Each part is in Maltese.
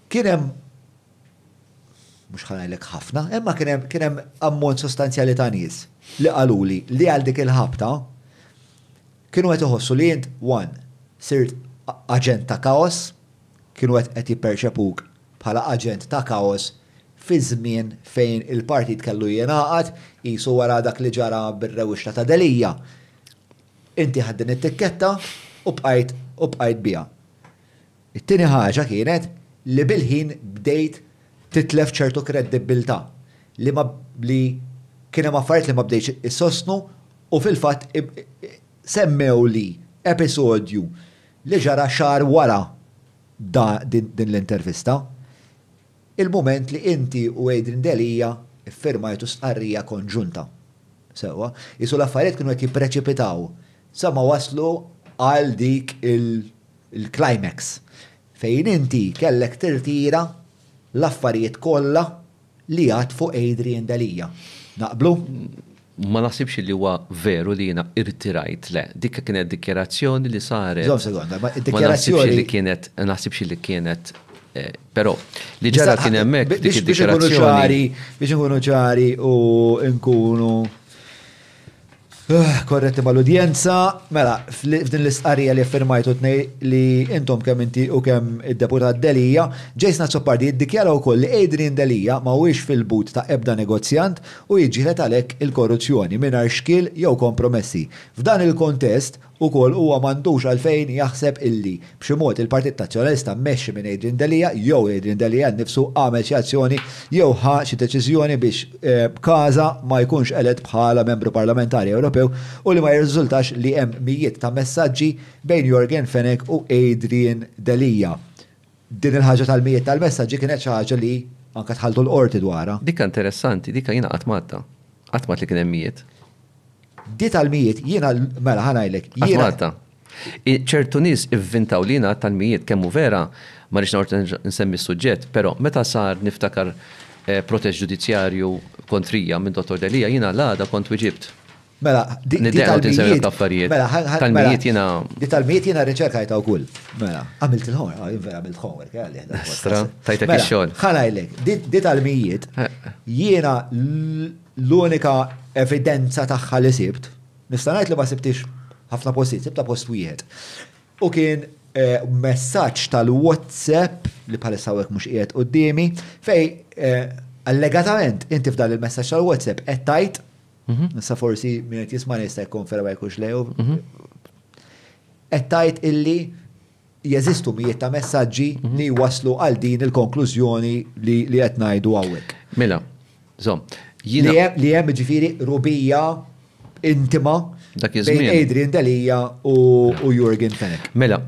Kien hemm, mhux ħa ngħidlek ħafna, imma kien hemm kien hemm ammont sostanzjali ta' nies li qaluli li għal dik il-ħabta kienu qed iħossu li int, one, sirt aġent ta' kaos, kienu qed qed jipperċepuk bħala aġent ta' kaos fi żmien fejn il-partit kellu jingħaqad, qisu wara dak li ġara bir-rewwixta ta' Delia, inti ħadt din it-tikketta u bqajt u bqajt biha. It-tieni ħaġa kienet li bil-ħin bdejt titlef ċertu kreddibbiltà li ma li kien hemm affarijiet li ma bdejtx isostnu u fil-fatt semmewli episodju li ġara xahar wara da din l-intervista, il-mument li inti u Adrian Delia ffirmajtu stqarrija konġunta. Sewwa, qisu l-affarijiet kienu qed jippreċipitaw sa ma waslu għal dik il- il-climax, fejn inti kellek tirtira l-affarijiet kollha li għad fuq Adrian Delia. Naqblu? Ma naħsibx li huwa veru li jiena irtirajt, le. Dik kienet dikjarazzjoni li saret. Żomm sekonda, ma d-dikjarazzjoni. Ma naħsibx li kienet, naħsibx li kienet, però li ġara kien hemmhekk dik id-dikjarazzjoni. Biex inkunu ċari u nkunu. Korretti mal-udjenza, mela, f'din l-istqarrija li firmajtu tnej li intom kemm inti u kemm id-deputat Delia, Jason Azzopardi jiddikjara wkoll li Adrian Delia ma huwiex fil-but ta' ebda negozjant u jiġġieled għalhekk il-korruzzjoni mingħajr xkiel jew kompromessi. F'dan il-kuntest, Ukoll huwa m'għandux għalfejn jaħseb illi, b'xi mod, il-Partit Nazzjonalista mmexxi minn Adrian Delia jew Adrian Delia nnifsu għamel xi azzjoni jew ħa xi deċiżjoni biex Casa ma jkunx elett bħala Membru Parlamentari Ewropew u li ma jirriżultax li hemm mijiet ta' messaġġi bejn Yorgen Fenech u Adrian Delia Din il-ħaġa tal-mijiet tal-messaġġi kienet xi ħaġa li anke dħaltu l-Qorti dwarha. Dikha interessanti, dikha jiena qatt m'għadtha. Qatt m'għadt li kien hemm mijiet. Di tal-mijiet jiena mela ħa ngħidlek. Qatt m'għadtha. Ċertu nies ivvintaw li jien għadt tal-mijiet kemm hu vera, ma rridx noqgħod nerġa' nsemmi s-suġġett, però meta sar niftakar protest ġudizzjarju kontrija minn Dottor Delia jiena l-għada kont wiġibt. Mela, di tal-mijiet. Mela, tal-mijiet jina. Di tal-mijiet jina riċerkajta u kull. Mela, għamilt il-ħor, ah, vera għamilt ħor, għalli. Stra, tajtek mela, il-xol. Ħanajlek, di tal-mijiet eh. jina l-unika evidenza taħħa li sibt, nistanajt li ma sibtix ħafna postijiet, sibta post wieħed. U kien eh, messaċ tal-WhatsApp li bħalissa għek mux qiegħed qoddimi fej eh, allegatament inti f'dan il-messaċ tal-WhatsApp qed tajt Issa forsi min qed jisma' jista' jikkonferma jekk hux le. Qed tgħid illi jeżistu mijiet ta' messaġġi li waslu għal din il-konklużjoni li qed ngħidu hawnhekk. Mela, żomm. Li hemm ġifieri rubija intima bejn Adrian Delia u Jurgen Fenech. Mela,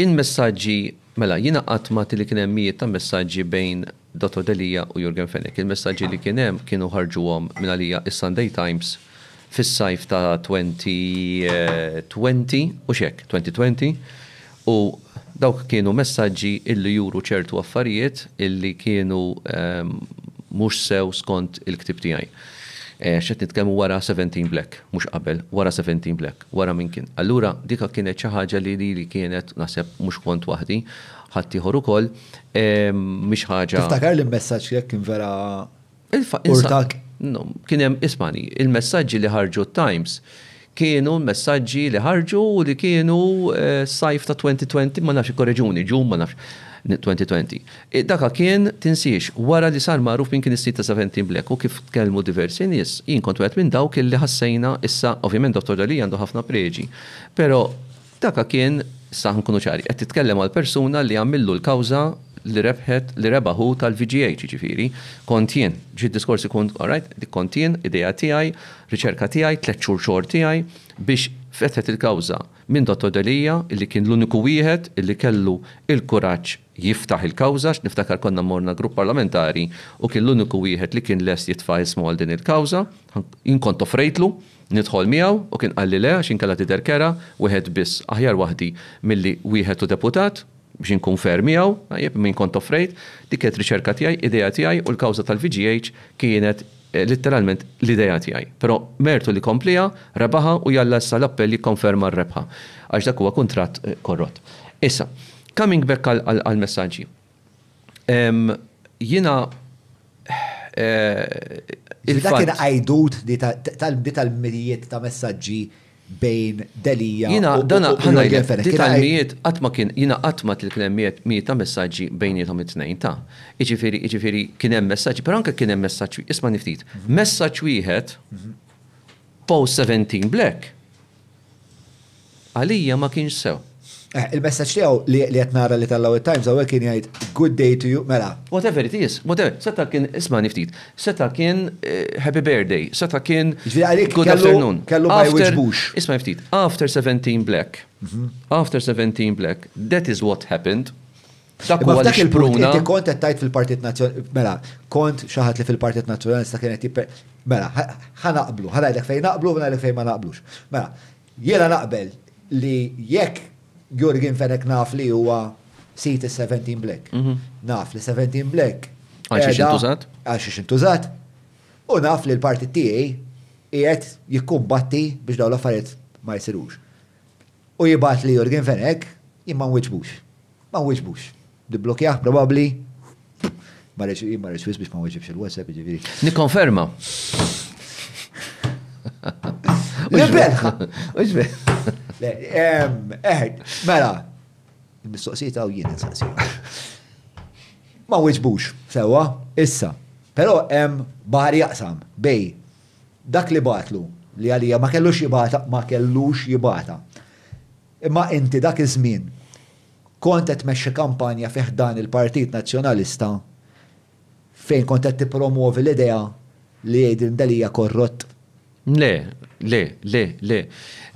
il-messaġġi Mela, jiena qatt m'għadt li kien hemm mijiet ta' messaġġi bejn Dottor Delia u Yorgen Fenech. Il-messaġġi li kien hemm kienu ħarġuhom minn għalija is-Sunday Times fis-sajf ta' 2020 u x'hekk, 2020, u dawk kienu messaġġi illi juru ċertu affarijiet illi kienu mhux sew skont il-ktieb tiegħi. X'qed nitkellmu wara Seventeen Black, mhux qabel, wara Seventeen Black, wara min kien. Allura dika kienet xi ħaġa li lili kienet, naħseb mhux kont waħdi, ħaddieħor ukoll, mhix ħaġa. Tiftakar li l-messaġġ tiegħek kien vera urtak? Kien hemm, ismagħni, il-messaġġi li ħarġu t-Times Kienu l-messaġġi li ħarġu u li kienu s-sajf ta' 2020, ma nafx ikkoreġuni, Ġun ma nafx, 2020. Daka kien, tinsiex, wara li sar magħruf min kien is-sid ta' Seventeen Black u kif tkellmu diversi nies, jien kont wieħed minn dawk illi ħassejna issa, ovvjament Dottor D'Elia għandu ħafna preġi, pero' Daka kien, saħ nkunu ċari, qed titkellem għal persuna li għamillu l-kawża li rebħet, li rebaħ hu tal-VGH, jiġifieri, kont jien. Biex id-diskors ikun, all right, dik kont jien, idea tiegħi, riċerka tiegħi, tliet xhur xogħol tiegħi, biex fetħet il-kawża minn Dottor Delia, illi kien l-uniku wieħed illi kellu l-kuraġġ, jiftaħ il-kawża, għax niftakar konna morna grupp parlamentari u kien l-uniku wieħed li kien lest jitfa' ismu għal din il-kawża. Jien kont offrejtlu nidħol miegħu u kien qalli le għax inkella tidher kerha, wieħed biss aħjar waħdi milli wieħed u deputat, biex inkun fair miegħu, tajjeb, imma jien kont offrejt. Dik kienet riċerka tiegħi, idea tiegħi u l-kawża tal-VGH kienet Litteralment, l-idea tiegħi. Però mertu li kompliha, rebaħha u jalla issa l-appell jikkonferma r-rebħa. Għax dak huwa kuntratt korrott. Issa, coming back għall-messaġġi. Jiena il-fatt. Dak kien għajdut li tal-mijiet ta' messaġġi bejn Delia u Jurgen Fenech. Jiena, dan għadt, li qatt ma kien, jiena qatt m'għadt li kien hemm mijiet ta' messaġġi bejniethom it-tnejn, ta. Jiġifieri, jiġifieri kien hemm messaġġi, però anke kien hemm messaġġ, ismagħni ftit, messaġġ wieħed, post 17 bl-hekk, għalija ma kienx sew. Eh, il-messaġġ tiegħu li qed nara li tal-law it-Times hawnhekk kien jgħid good day to you, mela. Whatever it is, whatever, seta' kien isma' niftit, seta' kien eh, happy birthday, seta' kien good afternoon. Kellu ma jwiġbux. Isma' niftit, after 17 black, mhm. after 17 black, that is what happened. Dak huwa dak il-pruna. Inti kont qed tajt fil-Partit Nazzjonalista, mela, kont xi ħadd li fil-Partit Nazzjonalista kien qed mela, ħa naqblu, ħa ngħidlek fejn naqblu, ħa ngħidlek fejn ma naqblux. Mela, Jiena naqbel li jekk Yorgen Fenech naf li huwa sid is-Seventeen Black. Naf li Seventeen Black. Għal xiex intużat? Għal xiex intużat. U naf li l-partit tiegħi qiegħed jikkumbatti biex dawn l-affarijiet ma jsirux. U jibgħat li Yorgen Fenech jien ma nwiġbux. Ma wieġbux. Nibblokjah probabbli. Ma rridx jien ma rridx wis biex ma wieġibx il-WhatsApp jiġifieri. Nikkonferma. Rebelħa! Eh, mela, il-mistoqsijiet għaw jien insaqsi. Ma wieġbux, sewa, issa. Però hemm bahar jaqsam bej dak li batlu li għalija ma kellux jibata, ma kellux jibata. Imma inti dak iż-żmien kont qed tmexxi kampanja fi ħdan il-Partit Nazzjonalista fejn kont qed tippromwovi l-idea li Adrian Delia korrott? Le, le, le, le.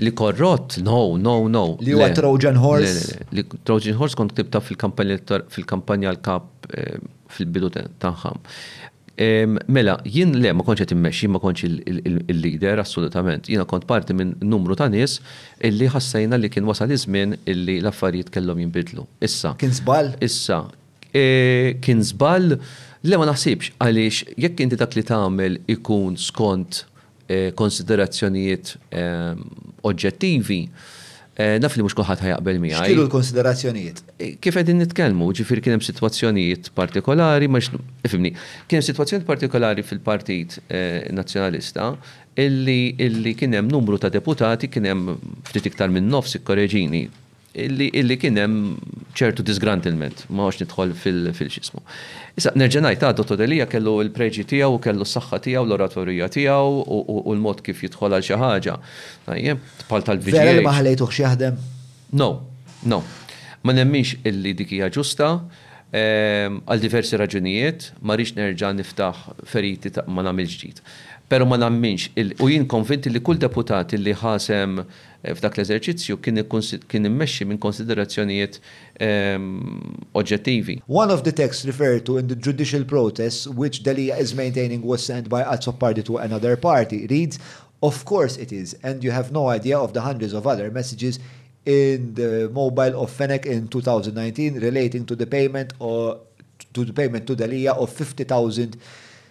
Li korrott, no, no, no. Li huwa Trojan Horse? Le, le, le. Li Trojan Horse kont ktiebtha fil-kampanja għall-Kap fil-bidu tagħha. Mela, jien le ma kontx qed immexxi, ma kontx il-leader assolutament. Jiena kont parti minn numru ta' nies illi ħassejna li kien wasal iż-żmien illi l-affarijiet kellhom jinbidlu. Issa. Kien żball? Issa. Kien żball? Le ma naħsibx għaliex jekk inti dak li tagħmel ikun skont konsiderazzjonijiet oġġettivi, naf li mhux kulħadd ħa jaqbel miegħi. X'kienu l-konsiderazzjonijiet? Kif qegħdin nitkellmu, ġifieri kien hemm sitwazzjonijiet partikolari, ifhimni, kien hemm sitwazzjonijiet partikolari fil-Partit Nazzjonalista illi kien hemm numru ta' deputati, kien hemm ftit iktar minn nofs, ikkoreġini, illi kien hemm ċertu disgruntilment, ma noqgħodx nidħol fil-x'ismu. Issa, nerġa' ngħid, ta' Dottor Delia kellu l-preġi tiegħu u kellu s-saħħa tiegħu, l-oratorija tiegħu u l-mod kif jidħol għal xi ħaġa, tajjeb, bħal tal-VGA. Vera li ma ħallejtuhx jaħdem? No, no. Ma nemminx illi dik hija ġusta, għal diversi raġunijiet, ma rridx nerġa' niftaħ feriti ta' ma nagħmilx ġdid. Però ma nemminx, u jien konvint illi kull deputat illi ħa sehem, f'dak l-eżerċizzju kien immexxi minn konsiderazzjonijiet oġġettivi. One of the texts referred to in the judicial proces which Delia is maintaining was sent by Azzopardi to another party reads, Of course it is and you have no idea of the hundreds of other messages in the mobile of Fenech in 2019 relating to the payment to Delia of 50,000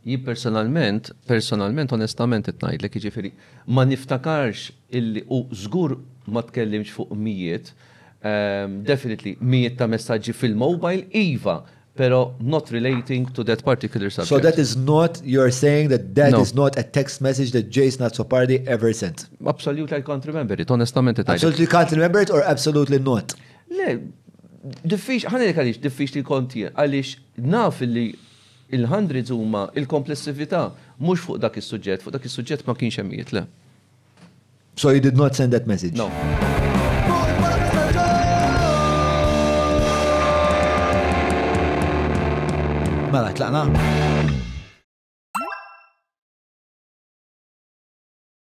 Jien personalment, personalment onestament qed ngħidlek, jiġifieri ma niftakarx illi u żgur ma tkellimtx fuq mijiet, definitely mijiet ta' messaġġi fil-mobile iva, pero not relating to that particular subject. So that is not, you are saying that that is not a text message that Jason Azzopardi ever sent? Absolutely I can't remember it, onestament qed ngħidlek. Absolutely you can't remember it or absolutely not? Le, diffiċli, ħa ngħidlek għaliex diffiċli kont jien, għaliex naf illi Il-hundreds huma il-komplessività, mhux fuq dak is-suġġett, fuq dak is-suġġett ma kienx hemm mijiet, le. So you did not send that message? No. Mela, tlaqna?